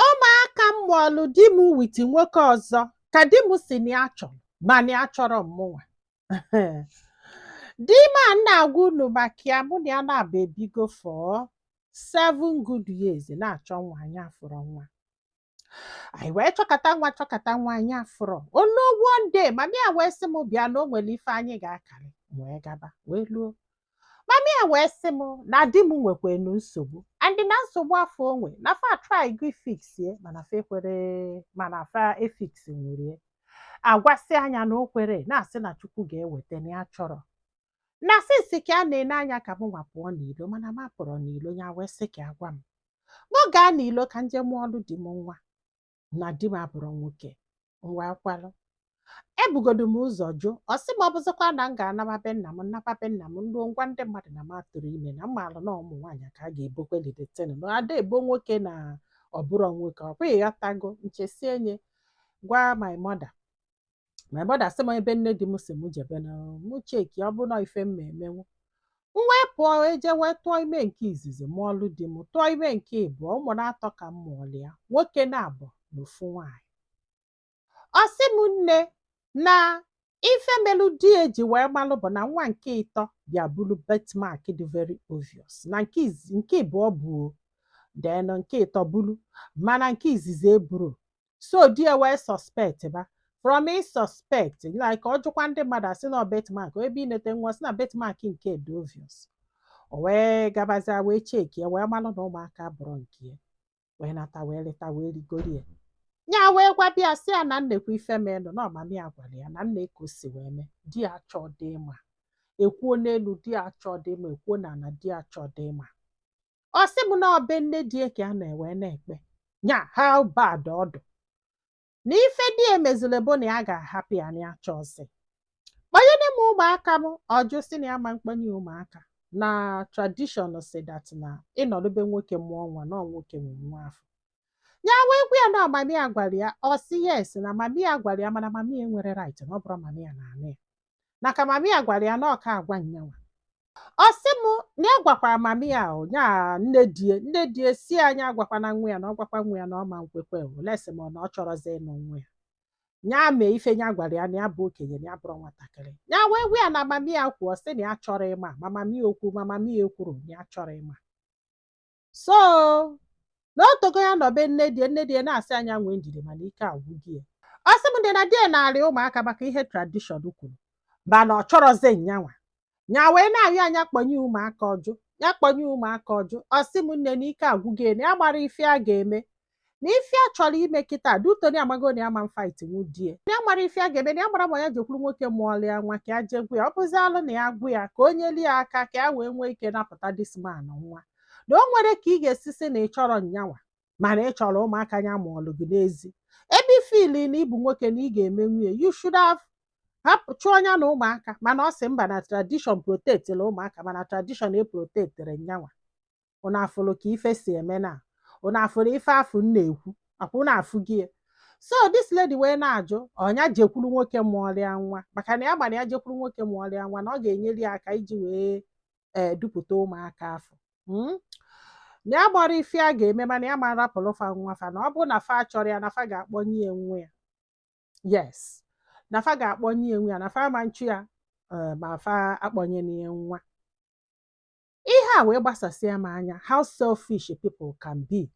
Ụmụaka m mụọlụ di m with nwoke ọzọ ka di m sị na ya achọrọ ma na ya achọrọ mụnwa. Di m a m na-agwa unu maka ya mụ na ya na-abọ ebigo for seven good years na-achọ nwa anyị afụrọ nwa. Anyị wee chọkata nwa chọkata nwa anyị afụrọ. O luo one day mama ya wee sị m bịa na o nwere ife anyị ga-akarị m wee gaba wee luo mama ya wee sị m na di m nwekwenu nsogbu and na nsogbu afụ o nwe na fa atrygo ifix ya mana fa ekwere mana fa efix nwere a gwasịa nya na o kwere na-asị na Chukwu ga-eweta na ya achọrọ na since ka a na-ene anya ka mụnwa pụọ n'ilo mana m apụrọ n'ilo ya wee sị ka ya gwa m mụ gaa n'ilo ka m je mụọlụ di m nwa na di m abụrọ nwoke m wee kwelụ ebugodo m ụzọ jụ ọ sị m ọ bụzịkwa na m ga-anaba be nna m m naba be nna m luo m gwa ndị mmadụ na m atụrọ ime na m malụ na ụmụ nwaanyị ka a ga-ebokweli the thing na a da ebo nwoke na ọ bụrọ nwoke ọ bụghị ya tago m chesie m je gwa my mother my mother sị m ebe nne di m si m jebe na mụ check ọ bụ na ife m ma emenwu m wee pụọ eje wee tụọ ime nke izizi mụọlụ di m tụọ ime nke ịbụọ ụmụ na-atọ ka m mụọlụ ya nwoke na-abọ na ofu nwaanyị ọ sị m nne na ife melu di ya ji wee malụ bụ na nwa nke ịtọ bịa buru birthmark dị very obvious na nke izi- nke ịbụọ bu o, then nke ịtọ buru mana nke izizi eburo so di ya wee suspect ba from i suspect like ọ jụkwa ndị mmadụ a sị na birthmark ebe inete nwa sị na birthmark nke dị obvious o wee gabazie wee check ya wee malụ na ụmụaka abụrọ nke ya wee nata wee leta wee rigoro ya ya wee gwa bịa sị ya na neekwa ife menụ na ọ mami ya gwara ya na nee ka o si wee mee di ya achọọdị ịma e kwuo n'elu di ya achọọdị ịma e kwuo n'ana di ya achọọdị ịma ọ sị m na ọ be nne di ya ka a nọ wee na-ekpe nya how bad ọ dụ na ife di ya mezuru bụ na ya ga-ahapụ ya na ya chọọ sị kpọnyere m ụmụaka m ọ jụ sị na ya ama akpọnye ụmụaka na tradition sị that na ị nọdụ be nwoke mụọ nwa na ọ nwoke nwe nwa afụ ya wee gwa ya na mami ya gwara ya ọ sị yes na mami ya gwara ya mana mami ya enwerọ right na ọ bụrọ mami ya na-anụ ya na ka mami ya gwara ya na ọ ka-agwa nyanwa ọ sị m na ya gwakwara mama ya o ya nne di ya nne di ya sị nya agwakwana nwa ya na ọ gwakwa nwa ya na ọ ma nkwekwe unless ma na ọ chọrọzi ịnụ nwa ya ya mee ife ya gwara ya na ya bụ okenye na ya abụrọ nwatakịrị ya wee gwa ya na mama ya kwu ọ sị na ya achọrọ ịma ma mama ya o kwu ma mama ya ekwurọ na ya achọrọ ịma so na o tego ya nọbe nne di ye nne di ye na-asị ya nya nwee ndidi mana ike agwụgo ya ọ sị m nne na di ye narị ụmụaka maka ihe tradishọn kwuru mana ọ chọrọzi nyanwa nya wee na-arịọ ya nya kpọnye ụmụaka ọ jụ ya kpọnye ụmụaka ọ jụ ọ sị m nne na ike agwụgo ye na ya amarọ ife ya ga-eme na ife ya chọrọ ime kịta due to na ya amago na ya ma fight nwu di ye na ya amarọ ife ya ga-eme na ya amarọ ma ya jekwuru nwoke mụọlụ ya nwa ka ya jee gwa ya ọ bụzi alụ na ya gwa ya ka o nyeli ya aka ka ya wee nwee ike napụta this man nwa na o nwerọ ka ị ga-esi sị na ị chọrọ nyanwa mana ị chọrọ ụmụaka ya mụọlụ gị n'ezi ebe i feel na ị bụ nwoke na ị ga-emenwu ye you should have hapụ chụọ nya na ụmụaka mana ọ sị mba na tradition protectịrị ụmụaka mana tradition eprotectịrọ nyanwa ụnụ afụrụ ka ife si eme na ụnụ afụrụ ife afụ m na-ekwu akwa ụnụ afụgo ya so this lady wee na-ajụ nya jekwuru nwoke mụọrụ ya nwa maka na ya mara ya jekwuru nwoke mụọrụ ya nwa na ọ ga-enyere ya aka iji wee ee dupụta ụmụaka afụ mm? na ya amarọ ife ya ga-eme mana ya ma rapụrụ fa nwa fa na ọ bụrụ na fa chọrọ ya na fa ga-akpọnye ya nwa ya yes na fa ga-akpọnye ya nwa ya na fa ma nchụ ya ee, ma fa akpọnye na ya nwa ihe a wee gbasasịa m anya how selfish people can be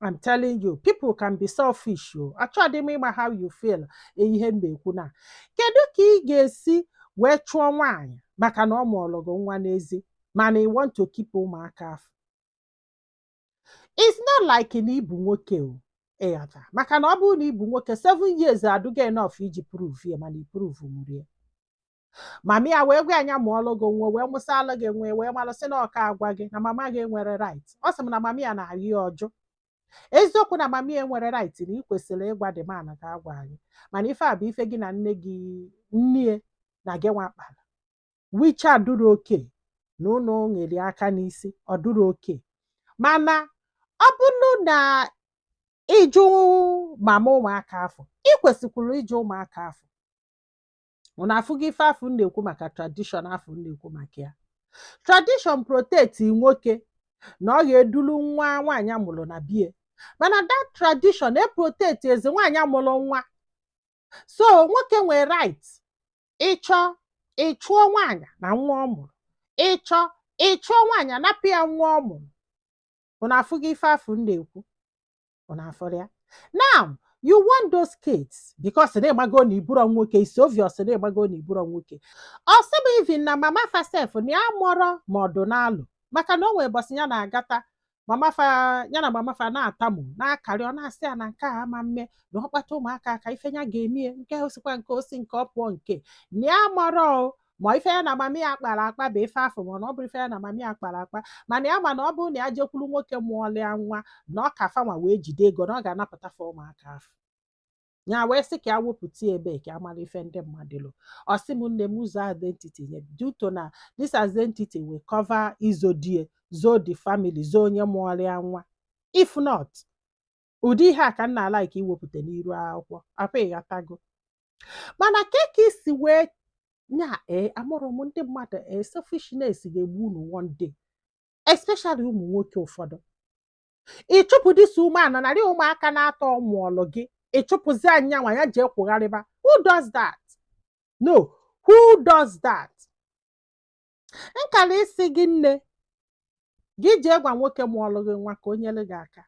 I'm telling you people can be selfish o achọghị m ịma how you feel ihe m na-ekwu na kedu ka ị ga-esi wee chụọ nwaanyị maka na ọ mụọrọ gị nwa n'ezi mana ị want to keep ụmụaka afụ it's not like na ị bụ nwoke o ị ghọta maka na ọ bụrụ na ị bụ nwoke seven years adụgo enough iji prove ya mana i prove nwurọ ya mama ya wee gwa ya nya mụọlụ gị nwa wee mụsịalụ gị nwa wee malụ sị na ọ ka agwa gị na mama gị nwere right ọ sị m na mama ya na-ayọ ya ọ jụ eziokwu na mama ya nwere right na ị kwesịrị ịgwa di mana ka agwa anyị mana ife a bụ ife gị na nne gị nne na gị nwa kpara which adụrọ okay na ụnụ nyere aka n'isi ọ dụrọ okay mana ọ bụrụ na ị jụ mama ụmụaka afụ ị kwesịkwuru ịjụ ụmụaka afụ unu afụgo ife afụ m na-ekwu maka tradishọn afụ m na-ekwu maka ya tradishọn protect nwoke na ọ ga-edulu nwa nwaanyị a mụrụ na be ye mana that tradition eprotectizi nwaanyị a mụrụ nwa so nwoke nwere right ị chọọ ị chụọ nwaanyị na nwa ọ mụrụ ị chọọ ị chụọ nwaanyị a napụ ya nwa ọ mụrụ unu afụgo ife afụ m na-ekwu unu afụrụ ya now you want those kids because na ị mago na ị bụrọ nwoke it's obvious na ị mago na ị bụrọ nwoke ọ sị m even na mama fa sef na ya amarọ ma ọ dụ n'alụ maka na o nwere mbọsị ya na-agata mama fa ya na mama fa na-atamu na-akarị ọ na-asị ya na nke a ama mme na ọ kpatụ ụmụaka aka ife ya ga-eme ye nke o sikwa nke o si nke ọ pụọ nke na ya amarọ o ma ife ya na mama ya kpara akpa bụ ife afụ mana ọ bụrụ ife ya na mama ya kpara akpa mana ya ma na ọ bụrụ na ya jekwuru nwoke mụọlụ ya nwa na ọ ka fanwa wee jide ego na ọ ga-anapụta fa ụmụaka afụ ya wee sị ka ya wepụta ebe ka amara ife ndị mmadụ lo ọ sị m nne m zoo identity nye due to na this identity will cover izo di ya zoo the family zoo onye mụọlụ ya nwa if not ụdị ihe a ka m na-ala ike iwepụta n'iru akwụkwọ ọkwa ịghọtago mana ka ka isi wee nya ee amụrụ m ndị mmadụ ee selfishness ga-egbu unu one day especially ụmụ nwoke ụfọdụ ịchụpụ this woman narị ụmụaka na-atọ ọ mụọlụ gị ịchụpụzia nyanwa ya jee kwụgharịba who does that no who does that nkara isi gị nne gị jee gwa nwoke mụọlụ gị nwa ka o nyere gị aka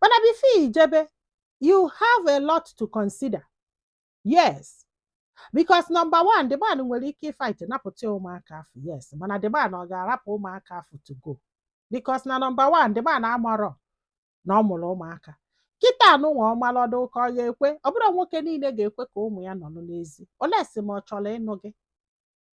mana before ijebe you have a lot to consider yes because number one the man nwere ike ịfight napụta ụmụaka afụ yes mana the man ọ ga-arapụ ụmụaka afụ to go because na number one the man amarọ na ọ mụrụ ụmụaka kịta anụnwa ọ mara ọ dụ ka ọ ga-ekwe ọ bụrọ nwoke niile ga-ekwe ka ụmụ ya nọrọ n'ezi unless ma ọ chọrọ ịnụ gị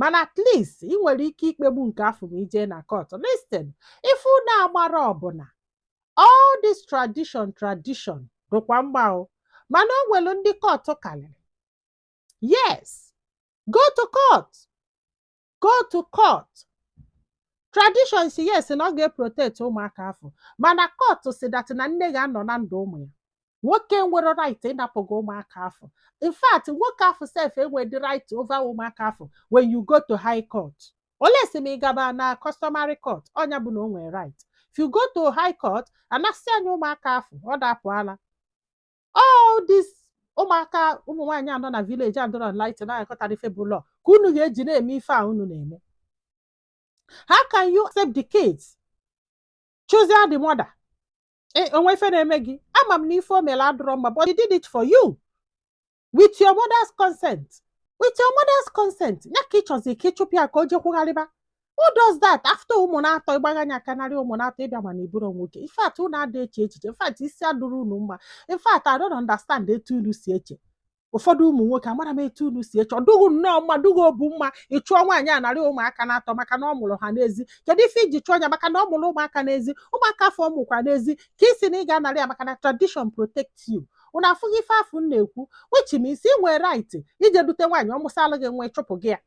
mana at least ị nwere ike ikpegbu nke afụ ma ijee na court listen ife unu amarọ bụ na all this tradition tradition dịkwa mma o mana o nwere ndị court karịrị yes go to court go to court tradition sị yes na ọ ga-eprotect ụmụaka afụ mana court sị that na nne ga-anọ na ndụ ụmụ ya nwoke enwerọ right ịnapụ gị ụmụaka afụ in fact nwoke afụ sef enwedị right over ụmụaka afụ when you go to high court unless ma ị gaba na customary court ọ nya bụ na o nwere right if you go to high court anasịa nya ụmụaka afụ ọ dapụala all this ụmụaka ụmụ nwaanyị anọ na village adọrọ light na-aghọtarọ ife bụ law ka unu ga-eji na-eme ife a unu na-eme how can you accept the kids chase the mother e, o nwe ife na-eme gị ama m na ife o mere adụrọ mma but he did it for you with your mother's consent with your mother's consent ya ka ịchọzi ka ịchụpụ ya ka o jee kwụgharịba who does that after ụmụ na-atọ ịgbagha nya aka narị ụmụ na-atọ ịbịa ma na ịbụrọ nwoke in fact unu ada eche echiche in fact isi adụrọ unu mma in fact I don't understand etu unu si eche ụfọdụ ụmụ nwoke amarọ m etu unu si eche ọ dụ gị nnọọ mma dụ gị obu mma ịchụọ nwaanyị a narị ụmụaka na-atọ maka na ọ mụrụ ha n'ezi kedu ife iji chụọ ya maka na ọ mụrụ ụmụaka n'ezi ụmụaka afụ ọ mụkwa n'ezi ka ị sị na ị ga-anarị ya maka na tradition protect you unu afụghị ife afụ m na-ekwu which means ị nwee right ije dute nwaanyị ọ mụsalụ gị nwa ịchụpụ gị ya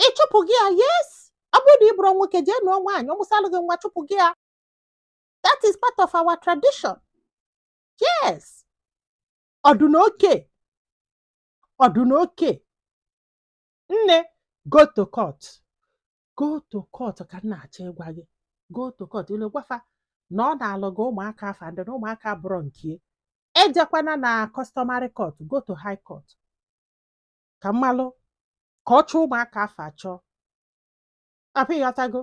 ịchụpụ gị ya yes ọ bụrụ na ị bụrụ nwoke jee nụọ nwaanyị ọ mụsalụ gị nwa chụpụ gị ya that is part of our tradition yes ọdụ na oke ọdụ na oke nne go to court go to court ka m na-achọ ịgwa gị go to court i luo gwa fa na ọ naalụ gị ụmụaka afụ and na ụmụaka abụrọ nke ejekwana na customary court go to high court ka m malụ ka ọ chọọ ụmụaka afụ achọ i hope ịghọtago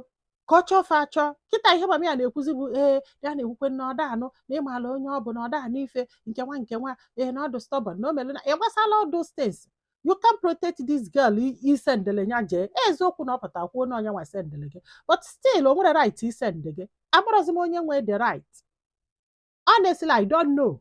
ka ọ chọọ fa achọ kịta ihe mama ya na-ekwuzi bụ ee ya na-ekwukwe na ọ da anụ na ị maala onye ọ bụ na ọ da anụ ife nke nwa nke nwa ee na ọ dụ stubborn na o mere na ị gbasala all those things you can protect this girl i- isendele ya jee eziokwu na ọ pụta kwuo na onye nwa sendele gị but still o nwere right isende gị amarọzi m onye nwe the right honestly i don't know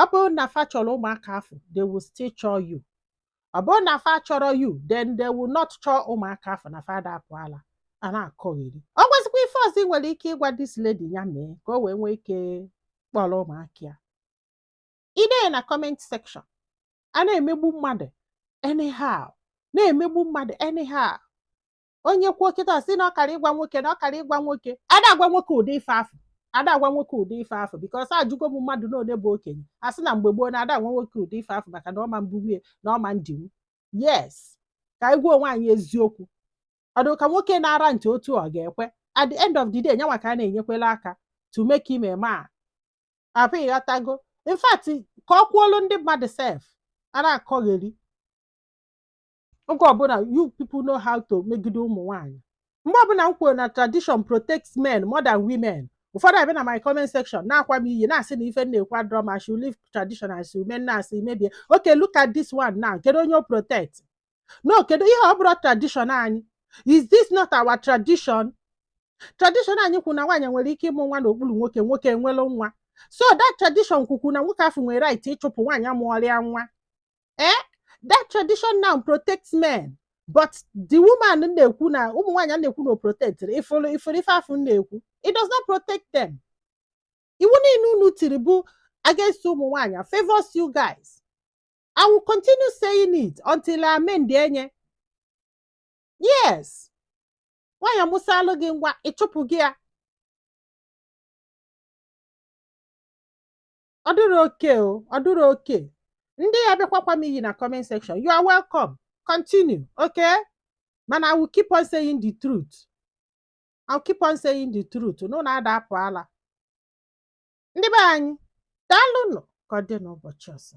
ọ bụrụ na fa chọrọ ụmụaka afụ they will still chọọ you ọ bụrụ na fa achọrọ you then they will not chọọ ụmụaka afụ na fa ada apụ ala a na-akọgheri o nwezikwa ife ọzọ ị nwere ike ịgwa this lady ya mee ka o wee nwee ike kpọrọ ụmụaka ya i dee na comment section a na-emegbu mmadụ anyhow na-emegbu mmadụ anyhow onye kwuo kịta sị na ọ kara ịgwa nwoke na ọ kara ịgwa nwoke ada agwa nwoke ụdị ife afụ ada agwa nwoke ụdị ife afụ because ajụgo m mmadụ na onye bụ okenye a sị na mgbe gboo na ada agwa nwoke ụdị ife afụ maka na ọ ma mbunwu nya na ọ ma ndinwu yes ka anyị gwa onwe anyị eziokwu ọ dụ ka nwoke na-ara ntị otu ọ ga-ekwe at the end of the day nyanwa ka a na-enyekwela aka to make him a man i hope ịghọtago in fact ka ọ kwuolu ndị mmadụ sef a na-akọgheri oge ọbụla you people know how to megide ụmụ nwaanyị mgbe ọbụla m kwuru na tradition protects men more than women ụfọdụ abịa na my comment section na-akwa m iyi na-asị na ife na-ekwu adụrọ mma should leave tradition as women na-asị mebie okay look at this one now kedu onye o protect no kedu ihe ọ bụrọ tradition anyị is this not our tradition tradition anyị kwuru na nwaanyị nwere ike ịmụ nwa n'okpuru nwoke nwoke enwelụ nwa so that tradition kwukwu na nwoke afụ nwere right ịchụpụ nwaanyị mụọrọ ya nwa eh that tradition now protects men but the woman na-ekwu na ụmụ nwaanyị a na-ekwu na o protect ị fụrụ ị fụrụ ife afụ na-ekwu it does not protect them iwu niile unu tiri bụ against ụmụ nwaanyị favors you guys I will continue saying it until a amendie nya yes nwaanyị amụsaalụ gị nwa ịchụpụ gị ya ọ dụrọ okay o ọ dụrọ okay ndị ya-abịa akwakwa m iyi na comment section you are welcome continue okay mana I will keep on saying the truth I will keep on saying the truth na unu ada apụ ala ndị be anyị daalụnụ ka ọ dị n'ụbọchị ọzọ